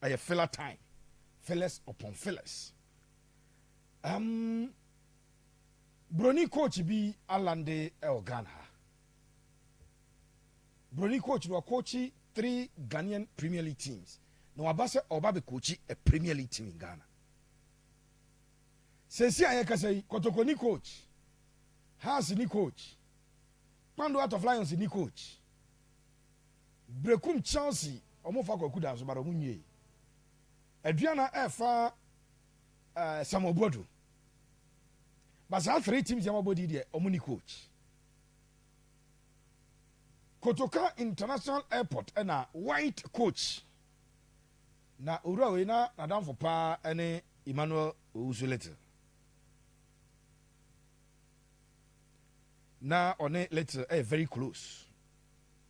Ɛyɛ filler time, fillers upon fillers. Um, Broni coach bi alande ɛwɔ Ghana ha. Broni coach no wakochi three Ghanaian Premier League teams. Na waba sɛ ɔba bɛ coachi a Premier League team in Ghana. Sɛsi a yɛkasa yi, Kotoko ni coach, Hearts ni coach, Kpando Heart of Lions ni coach. Brekum Chelsea ɔmo fa Kwaku Danso but ɔmo nwie. Aduana ɛfa eh, Samuel Boadu. But saa three teams yɛn abɔ di deɛ ɔmo ni coach. Kotoka International Airport ɛna white coach. Na owura wei na n'adamfo paa ɛne Emmanuel Owusu Little. Na ɔne Little ɛyɛ very close.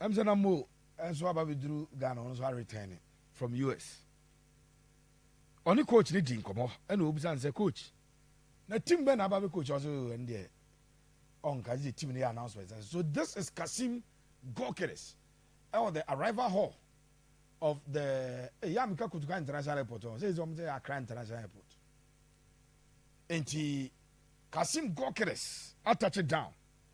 Ɛm sɛ na Mo nso aba abɛduru Ghana, ɔno nso aretɛɛne from US. Ɔne coach no dii nkɔmmɔ ɛna ɔbisa no sɛ, coach, na team bɛn na aba abɛ coach? Ɔse, oh, ɛno deɛ ɔnka, gye team no yɛ announcement sɛ, so this is Kassim Gokeres ɛwɔ the arrival hall of the ɛyɛ a meka Kotoka International Airport ɔn sɛ ɛsɛ ɔmo sɛ Accra International Airport nti Kassim Gokeres atɔkye down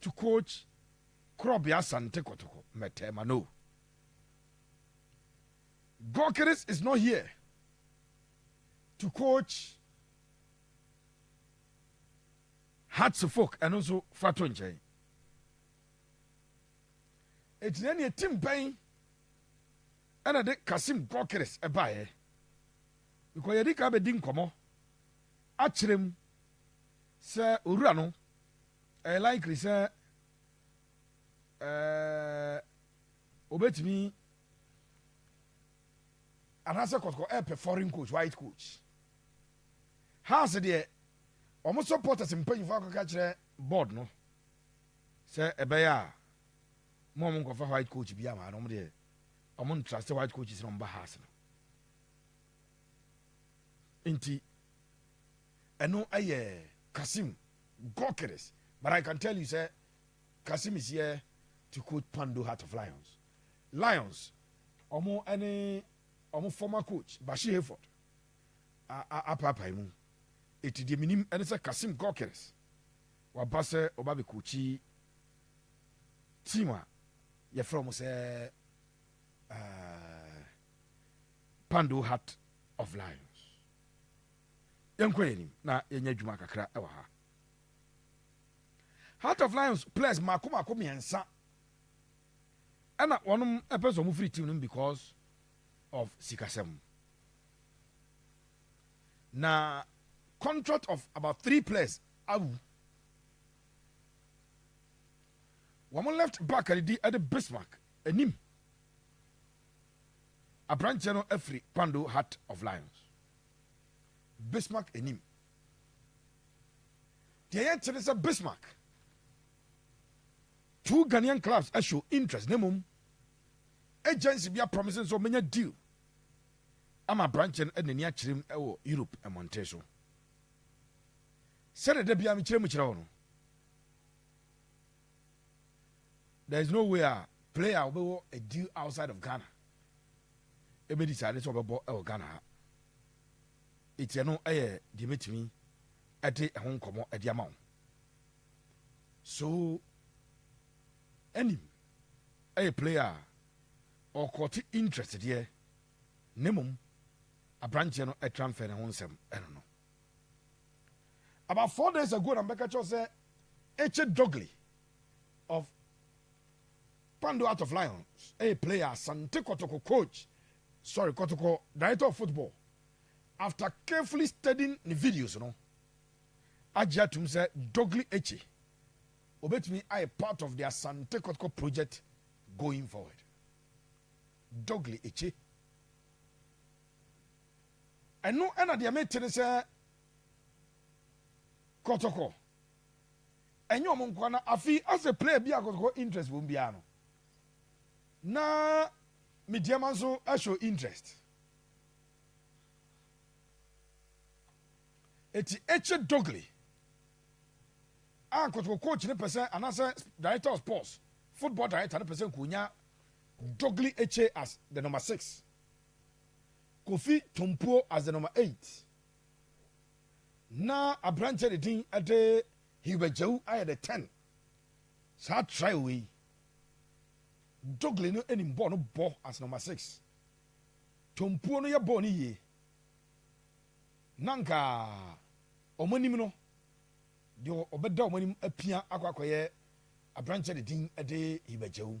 to coach Korɔbe Asante Kotoko Mɛtɛɛma no. Gokeres is not here to coach Hearts Folk ɛno nso fa to nkyɛn. Eti na neɛ tim bɛn ɛna de Kasim Gokeres ɛbaeɛ. Because yɛde ka bɛdi nkɔmɔ akyerɛ mu. Sɛ owura no, ɛyɛ likely sɛ ɛɛ obetumi anaasɛ kɔtɔkɔ ɛpɛ foreign coach white coach house deɛ wɔn supporters mpanyinfo akɔka kyerɛ board no sɛ ɛbɛyɛ a mo wɔn nkɔfa white coach bi ama no wɔn deɛ wɔn ntrust white coaches na wɔn ba house no nti. Ɛno yɛ Kassim Gokeres but I can tell you sɛ Kassim is here to coach Pando Heart of Lions. Lions ɔmo ɛne ɔmo former coach Bashir Hayford apaapae mu. Eti deɛ menim ɛne sɛ Kassim Gokeres waba sɛ ɔba bɛ coachi team a yɛfrɛ ɔmo sɛ uh, Pando Heart of Lions. yɛnkɔ yɛn anim na yɛnyɛ adwuma kakra wɔ ha. Heart of Lions players mako mako mmiɛnsa ɛna wɔn ɛpɛ sɛ wɔn firi team no because of sikasɛm na contract of about three players awu wɔn left back ɛdidi ɛde Bismarck anim aberanteɛ no afiri Kwando Heart of Lions. Bismarck anim. Deɛ yɛnte ne sɛ Bismarck two Ghanaian clubs show interest na mmom agency bi apromise sɛ ɔmɛnya deal ama aberanteɛ no n'ani akyerɛ mu wɔ Europe mmɔnten so sɛdeɛ da biara mekyerɛ mu kyerɛ wo no there is no way a player a ɔbɛwɔ a deal outside of Ghana ɛbɛ decide sɛ ɔbɛbɔ ɛwɔ Ghana ha ɛti ɛno ɛyɛ deɛ bɛtumi ɛde ɛho nkɔmmɔ ɛde ama wo so ɛnim ɛyɛ player a ɔkɔte interest deɛ ne mmom aberanteɛ no ɛtransfer ne ho nsɛm ɛno no About four days ago na mebɛka kyerɛ wo sɛ Eche Dogley of Kpando Heart of Lions ɛyɛ player Asante Kotoko coach sorry Kotoko director of football after carefully studying ne videos no agye atum sɛ Dogley Eche obetumi ayɛ part of the Asante Kotoko project going forward Dogley Eche Ɛno na deɛ mete ne sɛ kɔtɔkɔ ɛnyɛ wɔn nkoa na afi asɛ player bi a kɔtɔkɔ interest wɔn biara no na me deɛma nso show interest eti ekye dogli a kɔtɔkɔ coach ne pɛsɛ anasɛ director of sports football director ne pɛsɛ nkonya dogli ekye as the number six. Kofi Tompuo Azenoma Eight na aberanteɛ a ne din de Hilbert Djau ayɛ the ten saa trial wei. Dogley no nim bɔɔl no bɔ as number six. Tompuo no yɛ bɔɔl no yie. Na nka wɔn anim no, deɛ ɔbɛda wɔn anim apia akɔ akɔyɛ aberanteɛ a ne din de Hilbert Djau.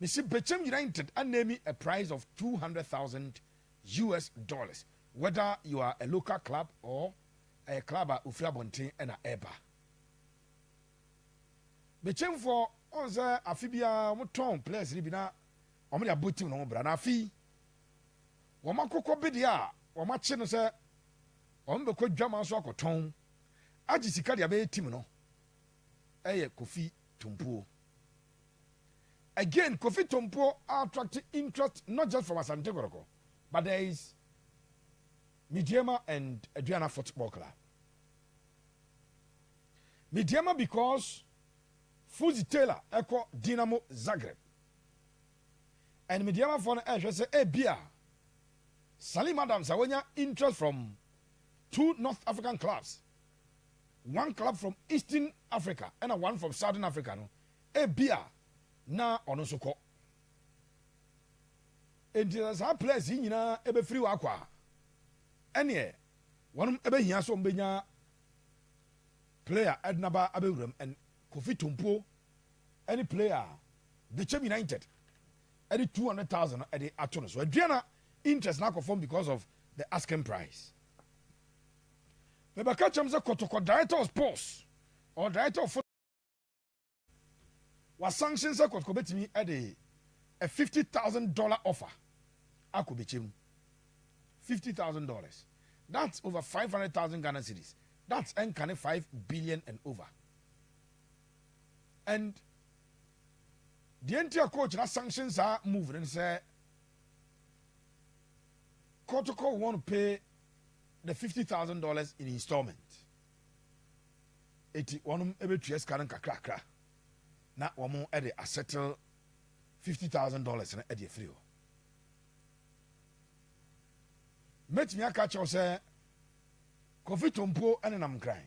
Mesi bɛkyɛm United anemi a price of two hundred thousand US dollars whether you are a local club or ɛyɛ club a ofiri abɔnten ɛna ɛɛba. Bɛkyɛmfoɔ ɔn sɛ afe biara wɔn tɔn players no bi na wɔn de abɔ team no ho bra na afe yi wɔn akokɔ bedeɛ a wɔn akye no sɛ wɔn bɛkɔ dwaman so akɔtɔn agye sika de abɛyɛ team no ɛyɛ Kofi Tumpuo. Again Kofi Tompo attracte interest not just from Asante Kotoko but there is Mideama and Aduana Football Club. Mideama because Fuzi Taylor ɛkɔ Dinamo Zagreb and Mideama fɔ no ɛhwɛ sɛ ebia Salim Adams a wonya interest from two North African clubs one club from Eastern Africa ɛna one from Southern Africa no ebia na ɔno nso kɔ enti sɛ saa players yi nyinaa ɛbɛfiri hɔ akɔ a ɛneɛ wɔnom ɛbɛhia sɛ ɔmbɛnya player ɛdena ba abɛwuram ɛn Kofi Tompuo ɛne player Bekyem United ɛde 200,000 ɛde ato no so aduana interest no akɔ fam because of the asking price Na ɛbɛka kyerɛ me sɛ, Kɔ to kɔ director of sports, ɔwɔ director of football. Wa sanction sɛ Kotoko bɛtumi de a fifty thousand dollar offer akɔ bɛkyɛ mu. Fifty thousand dollars. That's over five hundred thousand Ghana cedis. That's ɛnka ne five billion and over. And deɛ nti a coach na sanction saa move no sɛ Kotoko want to pay the fifty thousand dollars in installment. Eti wɔn bɛtua sika no nkakrakra na wɔn de asettle fifty thousand dollars no de afiri hɔ. Mɛtumi aka kyɛw sɛ Kofi Tompuo nenam nkran.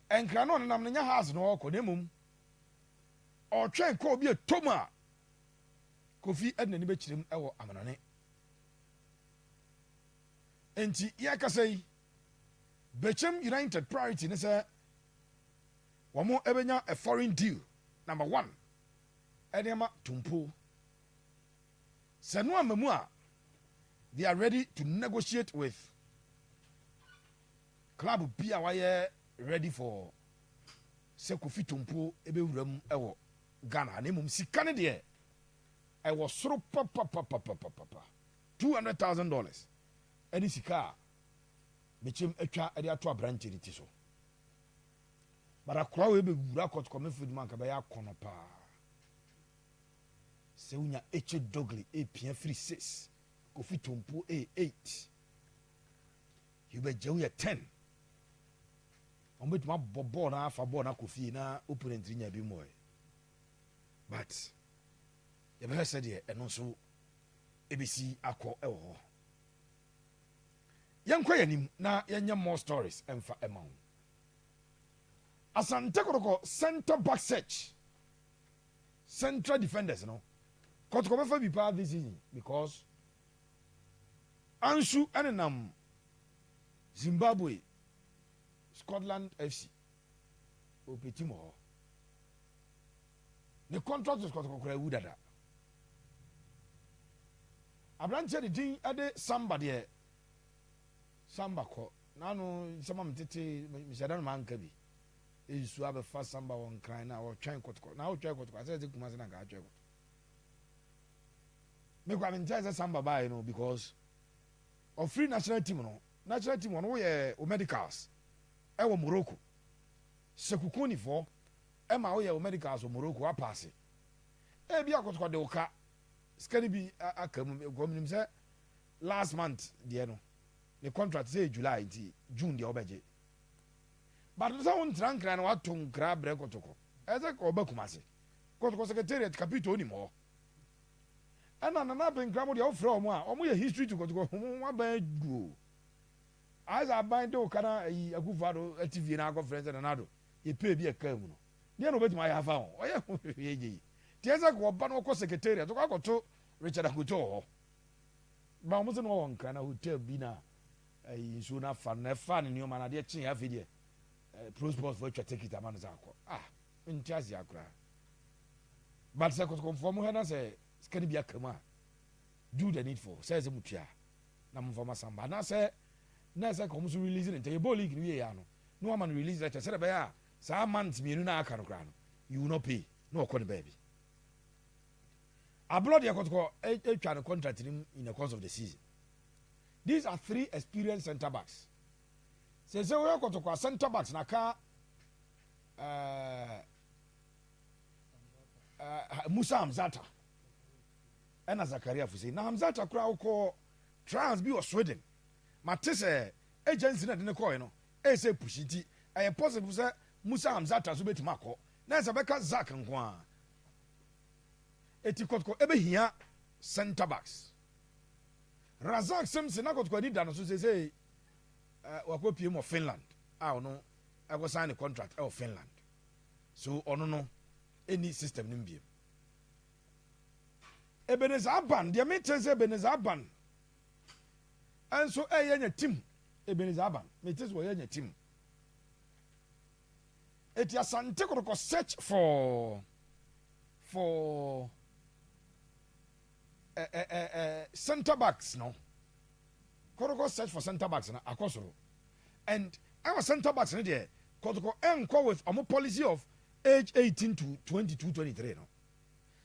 Nkran no ɔnenam no nyɛ house na ɔrekɔ na mmom ɔretwɛn kɔɔ bi a ɛtɔ mu a Kofi de n'ani bɛkyerɛ mu wɔ amanɔne. Enti yɛkasa yi, Bekyem United priority ne sɛ wɔn ɛbɛnya a foreign deal number one ɛde ama Tumpo. Sɛ no ama mu a, they are ready to negotiate with club bi a wayɛ ready for sɛ Kofi Tumpo ɛbɛwura mu ɛwɔ Ghana na mmom sika ne deɛ Ɛwɔ soro papapapapapapa. Two hundred thousand dollars ɛne sika a mekyem atwa ɛde ato aberanteɛ no ti so. But akora wei bɛ wura court kɔ me field mu anka bɛyɛ akɔnɔ paa. Sɛ wonya eche dogly e pia firi six kofi tompuo e eight. Hubert Gyau yɛ ten. Wɔn bɛtumi abɔ bɔɔl na afa bɔɔl na akɔ fie na opponent nya bi mmɔɛ. but yɛbɛhwɛ sɛdeɛ ɛno nso ɛbɛsi akɔ wɔ hɔ yɛnkɔ yɛn anim na yɛnyɛ more stories ɛmfa ɛma wo asante kɔtɔkɔ center back search central defenders no kɔtɔkɔ bɛfa bi paa this season because ansu ɛnenam zimbabwe scotland fc Obi te mo hɔ. Ne contractors kɔtɔkɔkɔrɔ awu dada. Aberanteɛ de din de samba deɛ samba kɔ n'ano nsɛm a metete mehyɛ da no manka bi. Nsuo abɛfa samba wɔ nkran na ɔtwɛn kɔtɔkɔ na ɔtwɛn kɔtɔkɔ asɛ ɛte kuma se na nka atwɛn kɔtɔ. Mekɔ a mentɛn sɛ samba baeɛ no because ɔfiri national team no national team ɔno woyɛ o medicals Ɛwɔ Morocco. Sɛ kukunifɔɔ ɛma wo yɛ wo medicals wɔ Morocco wa paase. Ebi a kɔtɔkɔ de wo ka sika no bi aka mu because menim sɛ last month deɛ no ne contract sɛ yɛ July nti June deɛ wobɛgye. But no sɛ wo ntena nkran na wato nkra brɛ kɔtɔkɔ. Ɛsɛ ɔba Kumase. Kɔtɔkɔ secretariat kapito onim hɔ. Ɛna Nana Abenkra mo deɛ wofrɛ wɔn a wɔn yɛ history to kɔtɔkɔ wɔn aban agu o. Aza aban de wo ka na ayi Akuffo Addo te fie na akɔ frɛ sɛ Nana Addo yɛ pɛ bi a ɛkaa mu no deɛn na ɔbɛtumi ayɛ afa ho? Ɔyɛ ho hwee gyei te sɛ ka ɔba na ɔkɔ secretariat ɔkɔ akɔto Richard Akoto wɔ hɔ ma wɔn se na ɔwɔ Nkran na hotel bi na ayi nsuo no afa no na ɛfaa ne nneɛma no adeɛ kyeeɛ afei deɛ eh, prosponsfo atwa tekit ama no sɛ akɔ ah nte aseɛ koraa but sɛ kɔtɔkɔmfoɔ mo hɛ na sɛ sika no bi aka mu a Do the needful, sɛ ɛsɛ motua a na momfa mo asan ba anaasɛ na ɛsɛ ka wɔn nso release no ntɛm. Yɛbɔɔ league no wieeɛ ara no na wɔama no release letter sɛdeɛ ɛbɛyɛ a saa months mmienu no a aka no koraa no he will not pay na ɔkɔ ne baabi. Ablɔ deɛ kɔtɔkɔ atwa ne contract no mu in the course of the season. These are three experienced centre backs. Sese woyɛ kɔtɔkɔ a centre backs na ka uh, uh, Musa Hamzata. Ɛna Zakaria fo sei, na Hamzata koraa ɔkɔɔ trials bi wɔ Sweden. Mate sɛ agya nti na ɛde no kɔɔɛ no, ɛyɛ sɛ push nti, ɛyɛ possible sɛ Musa Hamzata nso bɛtumi akɔ, na ɛsɛ bɛka Zak nko ara. Eti Kɔtɔkɔ ɛbɛhia centre backs. Razak Simpson na Kɔtɔkɔ ani da no so seesei, eh, wakɔ piem wɔ Finland a ɔno ɛkɔ sign ne contract ɛwɔ Finland. So ɔno no ɛni system no mbiem. Ebenezer Aban, deɛ mete ne sɛ Ebenezer Aban nso ɛyɛ nya tim. Ebenezer Aban, mete sɛ ɔyɛ nya tim. Eti Asante Kotoko search for for eh, eh, eh, eh, center backs no. Kotoko search for center backs no akɔ soro. And ɛwɔ center backs no deɛ Kotoko ɛnkɔ with ɔmo policy of age 18 to 22 23 no.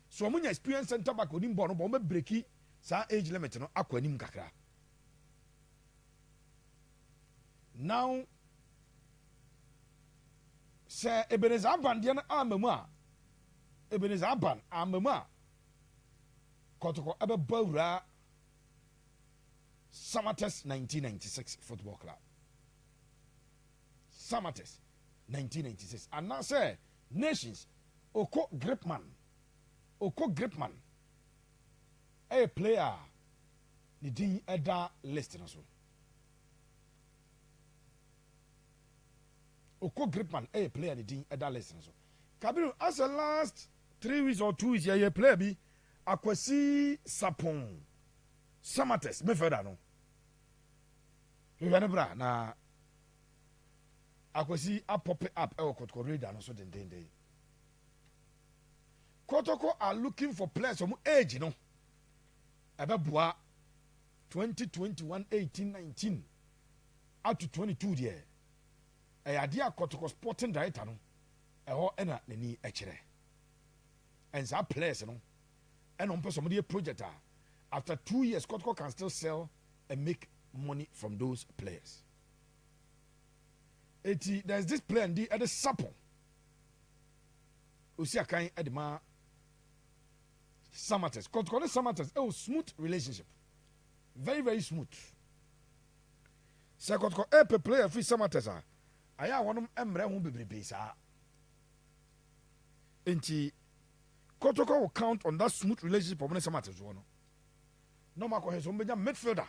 So ɔmo nya experience center back onim bɔɔl no bɔ ɔmo bɛ breki saa age limit no akɔ anim kakra now sɛ ebeneza aban deɛ no ama mu a ebeneza aban ama mu a kɔtɔkɔ ɛbɛbɔ awura samates 1996 football club samates 1996 anaasɛ Nations, Oko Gripman Oko Gripman yɛ player a ne din da list no so. Oko Gripman yɛ player ne din da list no so. Kabiru asɛ last three weeks or two weeks yɛyɛ player bi Akwasi Sapon Samatex midfielder no. Hwehwɛ ne bra na Akwasi are popping up wɔ Kotoko radar no so dendennden. Kotoko are looking for players wɔn age no ɛbɛboa 2021 18 19 up to 22 deɛ ɛyɛ adeɛ a Kotoko sporting director no ɛhɔ ɛna n'ani ɛkyerɛ ɛnsaa players no ɛna wɔn pɛ sɛ wɔn de project a after two years Kotoko can still sell and make money from those players. Eti there is this plan di ɛde sapo osi akan ɛde ma samates kɔtɔkɔ ne samates ɛwɔ e smooth relationship very very smooth sɛ kɔtɔkɔ ɛpɛ e play afiri samates a ayɛ a wɔnom mmerɛ ho bebrebe saa nti kɔtɔkɔ will count on that smooth relationship ɔmo ne samates wɔ no na ɔmo akɔhɛ so ɔmo bɛnya midfielder.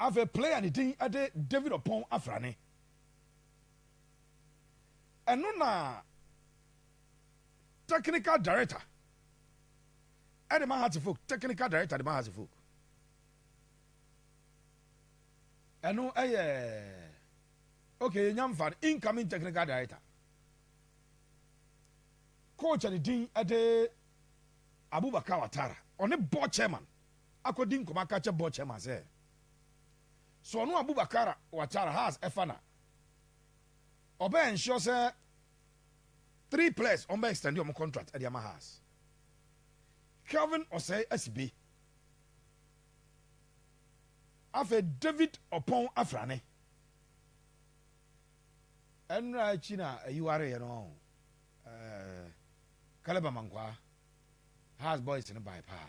Afei play a ne din de David Ɔpɔn Afrane. Ɛno na technical director ɛde ma Hearty Folk, technical director de ma Hearty Folk. Ɛno ɛyɛ okay, yɛnya mfa no incoming technical director. Coach ne din ɛde Abubakar Watara, ɔne board chairman. akɔdi nkɔmmɔ aka akyɛ board chairman sɛ, sɛ ɔno Abubakar Watara has ɛfa na ɔbɛ ensure sɛ three players ɔmbɛ extend ɔmo contract ɛde ama has. Kelvin Osei Asibe, afei David Opong Afrane. Ɛnra akyi na ayi wareɛ no ɔho. Ɛɛ, Caleb Amankwaa, has boys no bae paa.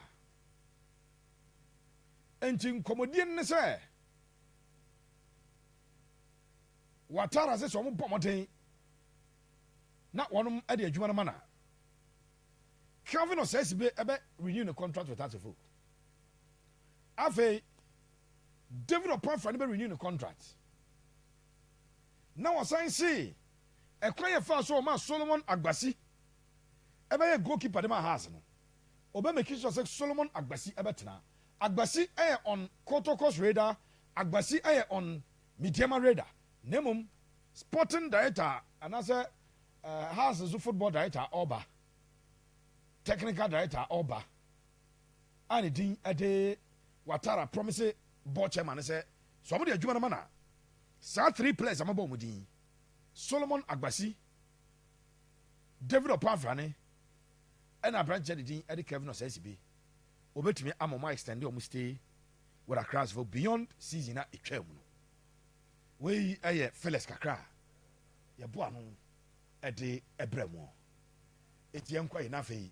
Enti nkɔmmɔdie no ne sɛ, wɔataa ase sɛ wɔbɔ mmɔden na wɔn de adwuma no ma na Kelvin Osesibe ɛbɛ renew ne contract with Asafo. Afei, David Opafra no bɛ renew ne contract. Na wɔsan see ɛkwan yɛ faa so wɔn a Solomon Agbasi ɛbɛyɛ goalkeeper de ma Hearts no. Obɛ meki sɔ sɛ Solomon Agbasi ɛbɛ tena. Agbasi ɛyɛ ɔn Kotoko's radar, Agbasi ɛyɛ ɔn Midiama radar. Na mmom Sporting Director anasɛ eh, Hearts nso Football Director ɔɔba, Technical Director ɔɔba a ne din ɛde Watara promise Board Chairman no sɛ sɛ ɔmo de adwuma no ma no a, saa three players a mabɔ ɔmo din yi, Solomon Agbasi, David Opafra ne. Ɛna abranteɛ de din de Kevin Osasibe, wɔbɛtumi ama wɔn extend wɔn stay with Accra's for beyond season a ɛtwaa mu no. Wei yɛ fillers kakra a yɛboa no de brɛ mu. Enti yɛnkɔ yi na afei.